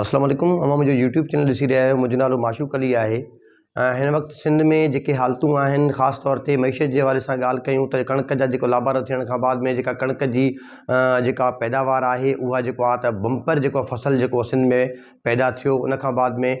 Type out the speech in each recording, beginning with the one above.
اسلام عليڪم اوهان منهنجو يوٽيوب چينل ڏسي رهيا آهيو منهنجو نالو معشوق علي آهي ۽ هن وقت سنڌ ۾ جيڪي حالتون آهن خاص طور تي معيشت جي حوالي سان ڳالهه ڪيون ته ڪڻڪ جا جيڪو لابارا ٿيڻ کان بعد ۾ جيڪا ڪڻڪ جي جيڪا پيداوار آهي اها جيڪو آهي ته بمپر جيڪو فصل جيڪو سنڌ ۾ پيدا ٿيو ان کان بعد ۾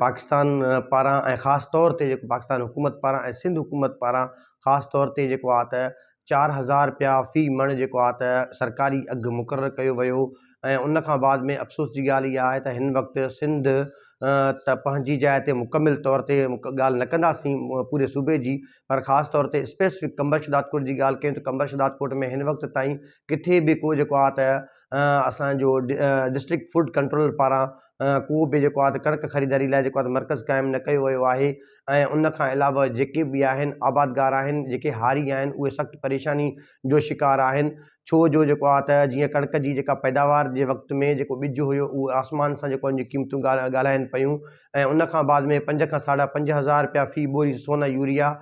پاڪستان پاران ۽ خاص طور تي جيڪو پاڪستان حڪومت پاران ۽ سنڌ حڪومت پاران خاص طور تي جيڪو آهي ته چار هزار رپيا في مڻ جيڪو آ ته سرڪاري اگهه مقرر ڪيو ويو ۽ ان کان بعد ۾ افسوس جي ڳالهه اها آهي ته هن وقت سنڌ ته پنهنجي جاء تي مڪمل طور تي ڳالهه نه ڪنداسين پوري صوبي جي پر خاص طور تي اسپيسفڪ قمبر شهدادڪوٽ جي ڳالهه ڪيون ته قمبر شهدادڪوٽ ۾ هن وقت تائين ڪٿي به ڪو جيڪو آ ته اسان جو ڊسٽرڪٽ فوڊ ڪنٽرول پاران ڪو به جيڪو آ ته ڪڻڪ خريداري لاء جيڪو آ ته مرڪز قائم نه ڪيو ويو آهي ۽ ان کان علاوه جيڪي به آهن آبادگار آهن جيڪي هاري آهن اهي سخت پريشاني جو شڪار آهن ڇو جو جيڪو آهي ته جيئن ڪڻڪ جي جيڪا پيداوار جي وقت ۾ جيڪو ٻج هيو اهو آسمان سان جيڪو جي قيمتون ڳالهائن پيون ۽ ان کان بعد ۾ پنج کان ساڍا پنج هزار رپيا في ٻوري سون يوريا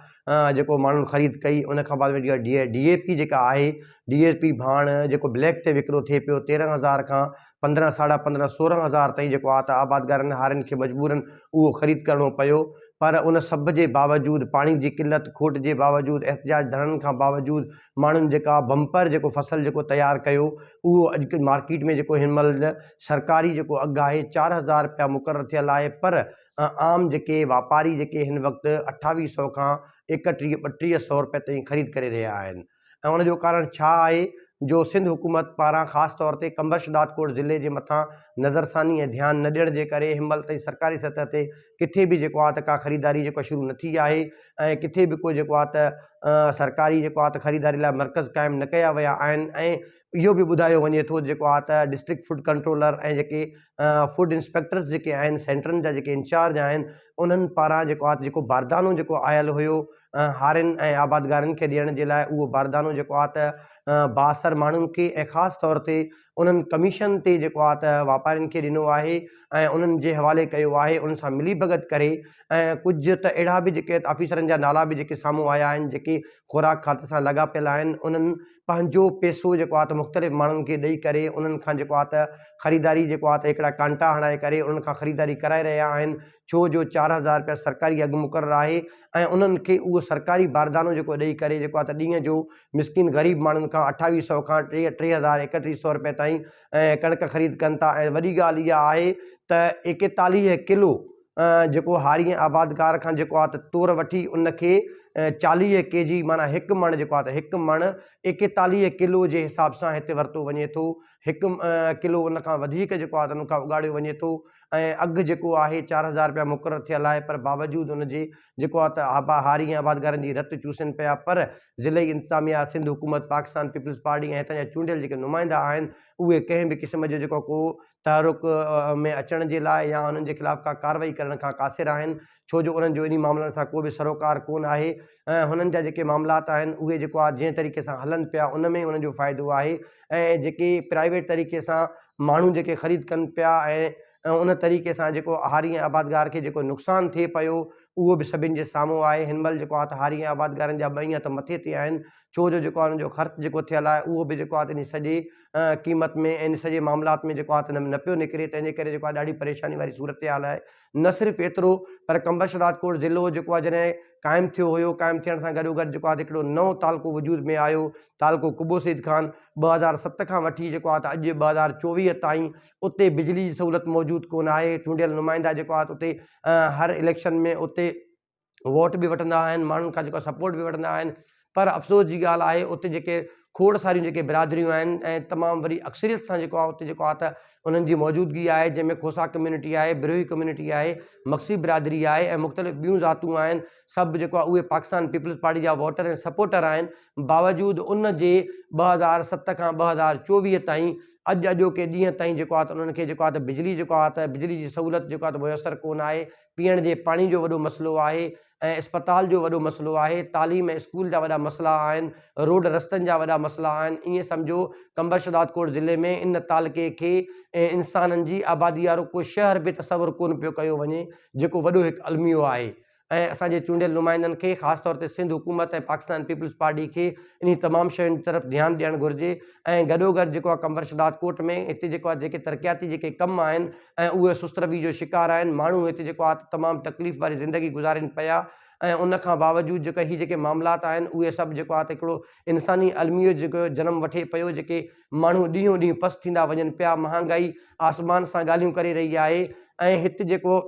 جيڪو ماڻهن خريد ڪئي ان کان بعد ۾ جيڪا ڊي اي پي جيڪا آهي ڊي اي پي ڀاڻ جيڪو بليڪ تي وڪرو ٿئي پيو تيرنهن هزار کان پندرهن، ساڍا پندرهن، سورهن هزار تائين جيڪو آ ته آبادگارن هارين کي مجبورن اهو خريد ڪرڻو پيو پر ان سڀ جي باوجود پاڻي جي قلت کوٽ جي باوجود احتجاج ڌرڻن کان باوجود ماڻهن جيڪا بمپر جيڪو فصل جيڪو تيار ڪيو اهو اڄ مارڪيٽ ۾ جيڪو هن مهل سرڪاري جيڪو اگهه آهي چار هزار رپيا مقرر ٿيل آهي پر عام جيڪي واپاري جيڪي هن وقت اٺاويهه سئو کان ايڪٽيهه ٻٽيهه سئو رپيا تائين خريد ڪري رهيا آهن. ۽ ان جو ڪارڻ ڇا آهي جو سنڌ حڪومت پاران خاص طور تي قمبر شھدادڪوٽ ضلعي جي مٿان نظرثاني ۽ ڌيان نه ڏيڻ جي ڪري ھن مھل تائين سرڪاري سطح تي ڪٿي به جيڪو آ ته ڪا خريداري جيڪو آ شروع نه ٿي آهي ۽ ڪٿي به ڪو جيڪو آ ته سرڪاري جيڪو آ ته خريداري لاء مرڪز قائم نه ڪيا ويا آهن ۽ اهو به ٻڌايو وڃي ٿو جيڪو آ ته ڊسٽرڪٽ فوڊ ڪنٽرولر ۽ جيڪي فوڊ انسپيڪٽرس جيڪي آهن سينٽرن جا جيڪي انچارج آهن انهن پاران جيڪو آ جيڪو باردانو جيڪو آيل هيو هارين ۽ آبادگارن کي ڏيڻ جي لاء اهو باردانو جيڪو آ ته بااثر ماڻهن کي ۽ خاص طور تي انهن ڪميشن تي جيڪو آ ته واپارين کي ڏنو آهي ۽ انهن جي حوالي ڪيو آهي انهن سان ملي ڀڳت ڪري ۽ ڪجهه ته اهڙا به جيڪي آفيسرن جا نالا به جيڪي سامهون آيا آهن جيڪي خوراڪ کاتي سان لاڳاپيل آهن انهن پنهنجو پيسو جيڪو آهي ته مختلف ماڻهن کي ڏئي ڪري انهن کان جيڪو آهي ته خريداري جيڪو آهي ته هڪڙا ڪانٽا هڻائي ڪري انهن کان خريداري ڪرائي رهيا آهن ڇو جو چار هزار رپيا سرڪاري اگهه مقرر آهي ۽ انهن کي اهو سرڪاري باردانو جيڪو ڏئي ڪري جيڪو آهي ته ڏينهن جو مسڪين غريب ماڻهن کان اٺاويهه سئو کان ٽي ٽي هزار ايڪٽيهه سئو رپيا تائين ڪڻڪ خريد ڪن ٿا ۽ وڏي ڳالهه اها آهي ته ايڪيتاليهه ڪلو جيڪو هاري ۽ آبادگار کان جيڪو آهي ته تور وٺي ان کي چاليهه ڪي جي معنيٰ هڪ مڻ جيڪو آهي ته هڪ مڻ ايڪيتاليهه ڪلو جي حساب سان هتي ورتو وڃي ٿو هڪ ڪلو ان کان وڌيڪ جيڪو آهي ته ان کان اگهاڙيو وڃي ٿو ۽ اگهه جيڪو آهي چار هزار رپيا مقرر ٿيل آهي پر باوجود ان جي جيڪو آهي ته آبا هاري ۽ آبادگارن جي رت چوسين پيا پر ضلعي انتظاميا سنڌ حڪومت پاڪستان پيپلز پارٽي ۽ هتان جا چونڊيل جيڪي نمائندا آهن اهي ڪنهن به قسم جو جيڪو ڪو تحرڪ ۾ اچڻ جي لاء يا انهن جي خلاف ڪا ڪارروائي ڪرڻ کان قاصر آهن، ڇو جو انهن جو انهي معاملن سان ڪو به سروڪار ڪونه آهي ۽ هنن جا جيڪي معاملات آهن اهي جيڪو آ جنهن طريقي سان هلن پيا ان ۾ ئي انهن جو فائدو آهي ۽ جيڪي پرائيويٽ طريقي سان ماڻهو جيڪي خريد ڪن پيا ۽ ان طريقي سان جيڪو هاري ۽ آبادگار کي جيڪو نقصان ٿئي پيو اهو به سڀن جي سامهون آهي هن مهل جيڪو آ ته هاري ۽ آبادگارن جا ٻئي هٿ مٿي تي آهن ڇو جو جيڪو آ انهن جو خرچ جيڪو ٿيل آهي اهو به جيڪو آ ته انهي سڄي قيمت ۾ ان سڄي معاملات ۾ جيڪو آهي نه پيو نڪري تنهن جي ڪري جيڪو آهي ڏاڍي پريشاني واري صورتحال آهي نه صرف ايترو پر قمبرش راجڪوٽ ضلعو جيڪو آهي جڏهن قائم ٿيو هيو قائم ٿيڻ سان گڏو گڏ جيڪو آهي هڪڙو نئون تعلقو وجود ۾ آيو تعلقو قبو سيد خان ٻه هزار ست کان وٺي جيڪو آهي اڄ ٻه هزار چوويهه تائين اتي بجلي جي سهولت موجود ڪونه آهي چونڊيل نمائندا جيڪو آهي اتي هر اليڪشن ۾ اتي ووٽ به وٺندا آهن ماڻهن کان جيڪو سپورٽ به وٺندا آهن پر افسوس جي ڳالهه آهي اتي جيڪي کوڙ ساريون جيڪي برادريون آهن ۽ تمام وڏي اڪثريت سان جيڪو اتي جيڪو آهي ته انهن جي موجودگي آهي جنهن ۾ کوسا کميونٽي آهي بروهي کميونٽي آهي مڪسي برادري آهي ۽ مختلف ٻيون ذاتون آهن سڀ جيڪو آهي اهي پاڪستان پيپلز پارٽي جا ووٽر ۽ سپورٽر آهن باوجود ان جي ٻه هزار ست کان ٻه هزار چوويهه تائين اڄ اڄوڪي ڏينهن تائين جيڪو آهي ته انهن کي جيڪو آهي ته بجلي جيڪو آهي ته بجلي جي سهولت جيڪو آهي ته ميسر ڪونه آهي پيئڻ جي پاڻي جو وڏو مسئلو آهي ۽ اسپتال جو وڏو مسئلو آهي، تعليم ۽ اسڪول جا وڏا مسئلا آهن، روڊ رستن جا وڏا مسئلا آهن، ائين سمجهو تمبرشهدادڪوٽ ضلعي ۾ ان تعلقي کي ۽ انسانن جي آبادي وارو ڪو شهر به تصور ڪونه پيو ڪيو وڃي جيڪو وڏو هڪ الميو آهي ۽ اسان جي چونڊيل نمائندن کي خاص طور تي سنڌ حڪومت ۽ پاڪستان پيپلز پارٽي کي انهي تمام شين جي طرف ڌيان ڏيڻ گهرجي ۽ گڏوگڏ جيڪو آهي قمبرشهدادڪوٽ ۾ هتي جيڪو آهي جيڪي ترقياتي جيڪي ڪم آهن ۽ اهي سست رويي جو شڪار آهن، ماڻهو هتي جيڪو آهي ته تمام تڪليف واري زندگي گذارين پيا ۽ ان کان باوجود جيڪو هي جيڪي معاملات آهن اهي سڀ جيڪو آهي ته هڪڙو انساني الميو جيڪو جنم وٺي پيو جيڪي ماڻهو ڏينهون ڏينهن پست ٿيندا وڃن پيا مهانگائي آسمان سان ڳالهيون ڪري رهي آهي ۽ هت جيڪو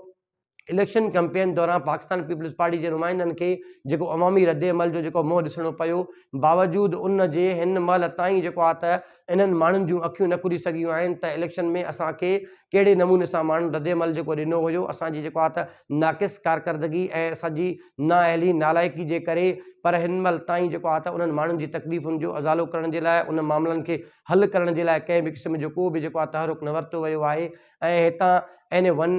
اليڪشن ڪئمپين دوران پاڪستان پيپلز پارٽي جي نمائندن کي جيڪو عوامي ردعمل جو جيڪو منهن ڏسڻو پيو باوجود ان جي هن مهل تائين جيڪو آهي ته انهن ماڻهن جون اکيون نه کلي سگهيون آهن ته اليڪشن ۾ اسان کي ڪهڙي نموني سان ماڻهن ردعمل جيڪو ڏنو هيو اسان جي جيڪو آهي ته ناقص ڪارڪردگي ۽ اسان جي نااهلي نالائقي جي ڪري پر هن مهل تائين جيڪو آهي ته انهن ماڻهن جي تڪليفن جو ازالو ڪرڻ جي لاء ان معاملن کي حل ڪرڻ جي لاء ڪنهن به قسم جو ڪو به جيڪو آهي تحرڪ نه ورتو ويو آهي ۽ هتان N A one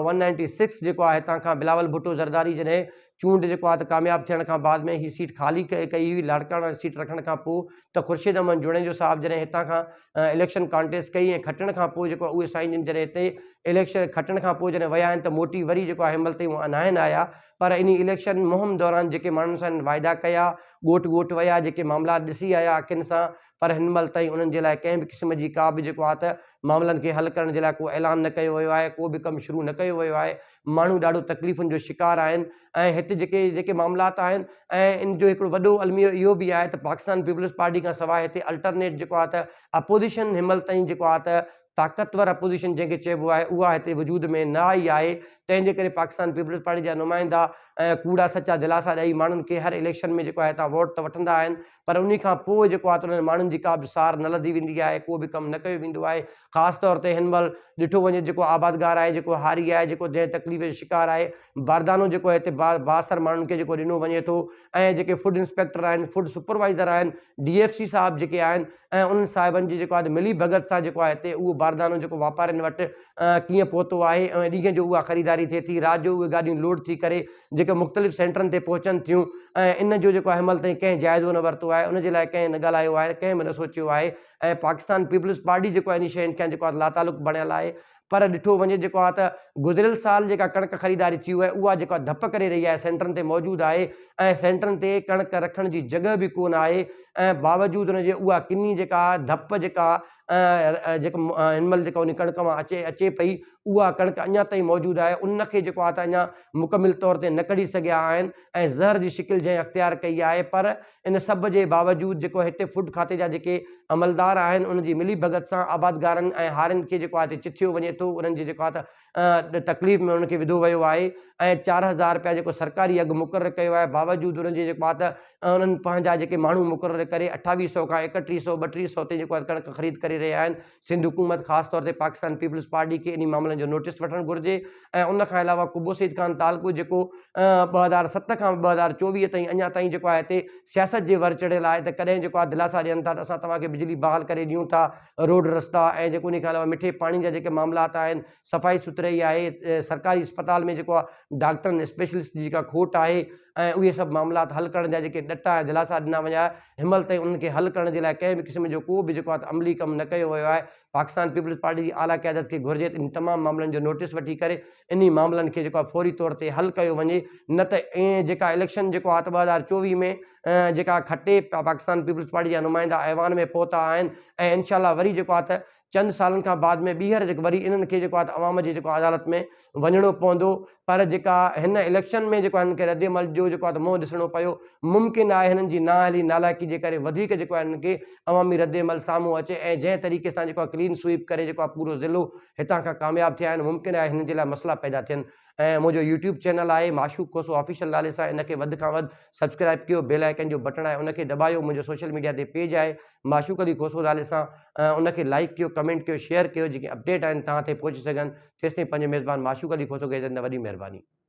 one ninety six جيڪو آهي هتان کان بلاول ڀٽو زرداري جڏهن چونڊ جيڪو آهي ته ڪامياب ٿيڻ کان بعد ۾ هي سيٽ خالي ڪئي ڪئي هئي لاڙڪاڻا جي سيٽ رکڻ کان پوء ته خورشيد احمد جوڻيجو صاحب جڏهن هتان کان اليڪشن ڪانٽيسٽ ڪئي ۽ کٽڻ کان پوء جيڪو اهي سائين جن جڏهن هتي اليڪشن کٽڻ کان پوء جڏهن ويا آهن ته موٽي وري جيڪو آهي هنمهل تائين ناهن آيا پر انهي اليڪشن مهم دوران جيڪي ماڻهن سان هنن واعدا ڪيا ڳوٺ ڳوٺ ويا جيڪي معاملات ڏسي آيا اکين سان پر هن مهل تائين انهن جي لاء ڪنهن به قسم جي ڪا به جيڪو آهي ته معاملن کي حل ڪرڻ جي لاء ڪو اعلان نه ڪيو ويو آهي، ڪو به ڪم شروع نه ڪيو ويو آهي، ماڻهو ڏاڍو تڪليفن جو شڪار آهن ۽ هت جيڪي جيڪي معاملات آهن ۽ ان جو هڪڙو وڏو الميو اهو به آهي ته پاڪستان پيپلز پارٽي کان سواء هتي الٽرنيٽ جيڪو آهي ته اپوزيشن هن مهل تائين جيڪو آهي ته طاقتور اپوزيشن جنهن کي چئبو آهي اها هتي وجود ۾ نه آئي آهي تنهن جي ڪري پاڪستان پيپلز پارٽي جا نمائندا ڪوڙا سچا دلاسا ڏئي ماڻهن کي هر اليڪشن ۾ جيڪو آهي هتان ووٽ ته وٺندا آهن پر انهي کان پوء جيڪو آهي ته انهن ماڻهن جي ڪا به سار نه لڌي ويندي آهي ڪو به ڪم نه ڪيو ويندو آهي خاص طور تي هن مهل ڏٺو وڃي جيڪو آبادگار آهي جيڪو هاري آهي جيڪو جنهن تڪليف جو شڪار آهي باردانو جيڪو هتي با بااثر ماڻهن کي جيڪو ڏنو وڃي ٿو ۽ جيڪي فوڊ انسپيڪٽر آهن فوڊ سپروائيزر آهن ڊي ايف سي صاحب جيڪي آهن ۽ انهن صاحبن جي جيڪو آهي ملي ڀڳت سان جيڪو آهي هتي اهو باردانو جيڪو واپارين وٽ ڪيئن پهتو آهي ۽ ڏينهن جو اها خريداري ٿئي ٿي رات جو اهي گاڏيون لوڊ ٿي ڪري جيڪي مختلف سينٽرن تي پهچن ٿيون ۽ ان جو جيڪو آهي مل تائين ڪنهن جائزو نه ورتو آهي ان جي لاء ڪنهن نه ڳالهايو آهي ڪنهن به نه سوچيو آهي ۽ پاڪستان پيپلز پارٽي جيڪو آهي انهن شين کان جيڪو آهي لاتعلق بڻيل آهي پر ڏٺو وڃي جيڪو آ ته گذريل سال جيڪا ڪڻڪ خريداري ٿي اهي اها جيڪو آ ڌپ ڪري رهي آهي سينٽرن تي موجود آهي ۽ سينٽرن تي ڪڻڪ رکڻ جي جڳهه به ڪو نه آهي ۽ باوجود ان جي اها ڪني جيڪا آ ڌپ جيڪا آ جيڪا هن مهل جيڪا ان ڪڻڪ مان اچي اچي پئي اها ڪڻڪ اڃان تائين موجود آهي ان کي جيڪو آ ته اڃان مڪمل طور تي نه ڪڍي سگهيا آهن ۽ زهر جي شڪل جنهن اختيار ڪئي آهي پر ان سڀ جي باوجود جيڪو هتي فوڊ کاتي جا جيڪي عملدار آهن ان جي ملي ڀڳت سان آبادگارن ۽ هارين کي جيڪو آهي هتي چٿيو وڃي ٿو انهن جي جيڪو آهي ته تڪليف ۾ انهن کي وڌو ويو آهي ۽ چار هزار رپيا جيڪو سرڪاري اگهه مقرر ڪيو آهي باوجود انهن جي جيڪو آهي ته انهن پنهنجا جيڪي ماڻهو مقرر ڪري اٺاويهه سئو کان ايڪٽيهه سئو ٻٽيهه سئو تائين جيڪو آهي ڪڻڪ خريد ڪري رهيا آهن سنڌ حڪومت خاص طور تي پاڪستان پيپلز پارٽي کي انهي معاملن جو نوٽيس وٺڻ گهرجي ۽ ان کان علاوه قبو سعيد خان تعلقو جيڪو ٻه هزار ست کان ٻه هزار چوويهه تائين اڃا تائين جيڪو آهي هتي سياست جي ور چڙهيل آهي ته ڪڏهن جيڪو آهي دلاسا ڏين ٿا ته اسان توهان کي بجلي بحال ڪري ڏيون ٿا روڊ رستا ۽ جيڪو انهي کان علاوه مٺي پاڻي جا جيڪي معاملات آهن صفائي سٿرائي آهي سرڪاري اسپتال ۾ جيڪو آهي ڊاڪٽرن اسپيشلسٽ جي جيڪا کوٽ آهي ۽ اهي سڀ معاملات حل ڪرڻ جا جيڪي ڏٽا ۽ دلاسا ڏنا وڃا هن مهل تائين انهن کي حل ڪرڻ جي لاء ڪنهن به قسم جو ڪو به جيڪو آهي عملي ڪم نه ڪيو ويو آهي پاڪستان پيپلز پارٽي جي اعليٰ قيادت کي گهرجي ته انهن تمام معاملن جو نوٽيس وٺي ڪري انهي معاملن کي جيڪو آهي فوري طور تي حل ڪيو وڃي نه ته ائين جيڪا اليڪشن جيڪو آهي ته ٻه هزار چوويهه ۾ جيڪا کٽي پاڪستان پيپلز پارٽي جا نمائندا ايوان ۾ پهتا آهن ۽ انشاء الله وري جيڪو آهي ته چند سالن کان بعد ۾ ٻيهر جيڪو وري انهن کي جيڪو آهي ته عوام جي جيڪو عدالت ۾ وڃڻو پوندو پر جيڪا هن اليڪشن ۾ جيڪو هنن کي رد عمل جو جيڪو آهي ته منهن ڏسڻو پيو ممڪن آهي هنن جي نااهلي نالائقي جي ڪري وڌيڪ جيڪو آهي هنن کي عوامي رد عمل سامهون اچي ۽ جنهن طريقي سان جيڪو آهي ڪلين سوئيپ ڪري جيڪو آهي پورو ضلعو هتان کان ڪامياب ٿيا آهن ممڪن آهي هنن جي لاء مسئلا پيدا ٿين ۽ منهنجو يوٽيوب چينل آهي معشوق کوسو آفيشل نالي سان ان کي وڌ کان وڌ سبسڪرائب ڪيو بيل آئيڪن جو بٽڻ آهي ان کي دٻايو منهنجو سوشل ميڊيا تي پيج آهي معشوق علي کوسو نالي سان ان کي لائڪ ڪيو ڪمينٽ ڪيو شيئر ڪيو جيڪي اپڊيٽ آهن توهان تائين پهچي سگهن تيستائين پنهنجو ميزبان معشوق علي کوسو کي اجازت ڏيندو آهيان وڏي مهرباني